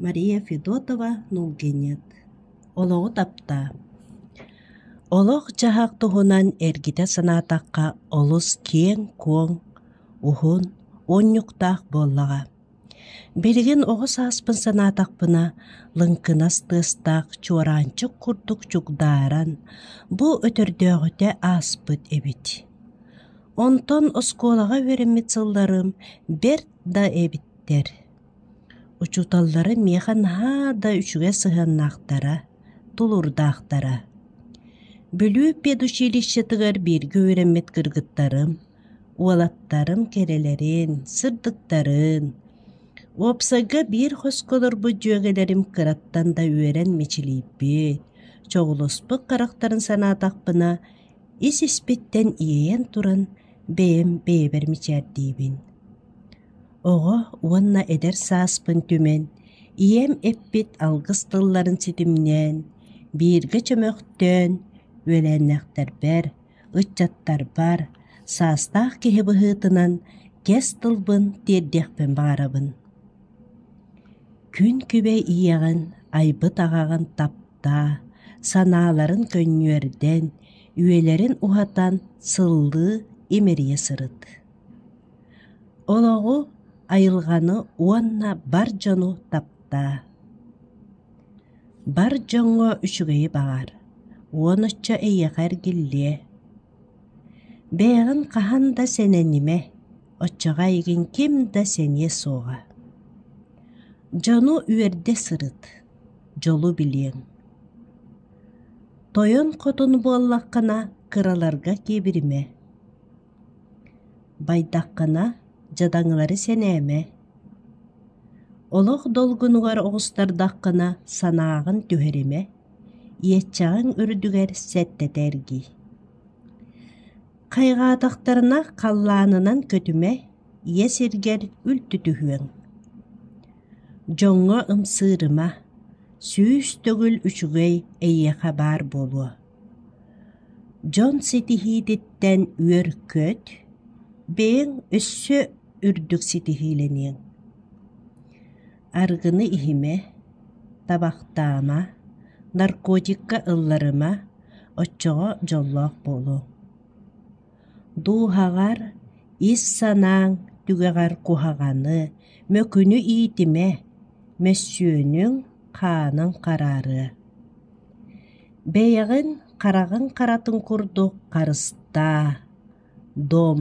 Мария Федотова Нулгинец олоҕу таптаа Олох-дьаһах туһунан эргитэ санаатахха олус киэҥ-куоҥ, уһун, уонньуктаах буоллаҕа. Билигин оҕо сааспын санаатахпына лыҥкынас тыастаах чуораанчык курдук чугдааран бу өтөрдөөҕүтэ ааспыт эбит. Онтон оскуолаҕа үөрэммит сылларым бэрт да эбиттэр. Учууталлары миэхэ наһаа да үчүгэй сыһыаннаахтара, тулуурдаахтара. Бүлүү педучилищетыгар бииргэ үөрэммит кыргыттарым, уолаттарым кэрэлэрин, сырдыктарын, уопсайга биир хоско олорбут дьүөгэлэрим кыраттан да үөрэн мичилийбит, чоҕулуспут харахтарын санаатахпына, ис испиттэн иэйэн туран, бэйэм бэйэбэр мичээрдиибин. Оҕо уонна эдэр сааспын түмэн, ийэм эппит алгыс тылларын ситимнээн, бииргэ чөмөхтөөн үөлээннээхтэрбэр, ыччаттарбар, саастаах киһи быһыытынан кэс тылбын тиэрдиэхпин баҕарабын. Күн күбэй ийэҕин, айбыт аҕаҕын таптаа, санааларын көнньүөрдэн, үйэлэрин уһатан сыллыы имэрийэ сырыт. Олоҕу, айылҕаны уонна бар дьону таптаа. Бар дьоҥҥо үчүгэйи баҕар, уон оччо эйиэхэ эргиллиэ. Бэйэҕин хаһан да сэнэнимэ, оччоҕо эйигин ким да сэниэ суоҕа. Дьону үөрдэ сырыт, дьолу билиэҥ. Тойон хотун буоллаххына кыраларга киэбиримэ. Байдаххына, дьадаҥылары сэнээмэ. Олох долгунугар оҕустардаххына, санааҕын түһэримэ, иэччэҕиҥ үрдүгэр сэттэтэ эргий. Хайҕаатахтарына, халлаанынан көтүмэ, ийэ сиргэр үлтүтүһүөҥ. Дьоҥҥо ымсыырыма, сүүс төгүл үчүгэй эйиэхэ баар буолуо Дьон ситиһиититтэн үөр көт, бэйэҥ өссө үрдүк ситиһиилэниэҥ. Арыгыны иһимэ, табахтаама, наркотикка ылларыма, оччоҕо дьоллоох буолуоҥ. Дууһаҕар, ис санааҥ түгэҕэр куһаҕаны, мөкүнү иитимэ, мөссүөнүҥ хаанын хараарыа. Бэйэҕин хараҕыҥ харатын курдук харыстаа, Дом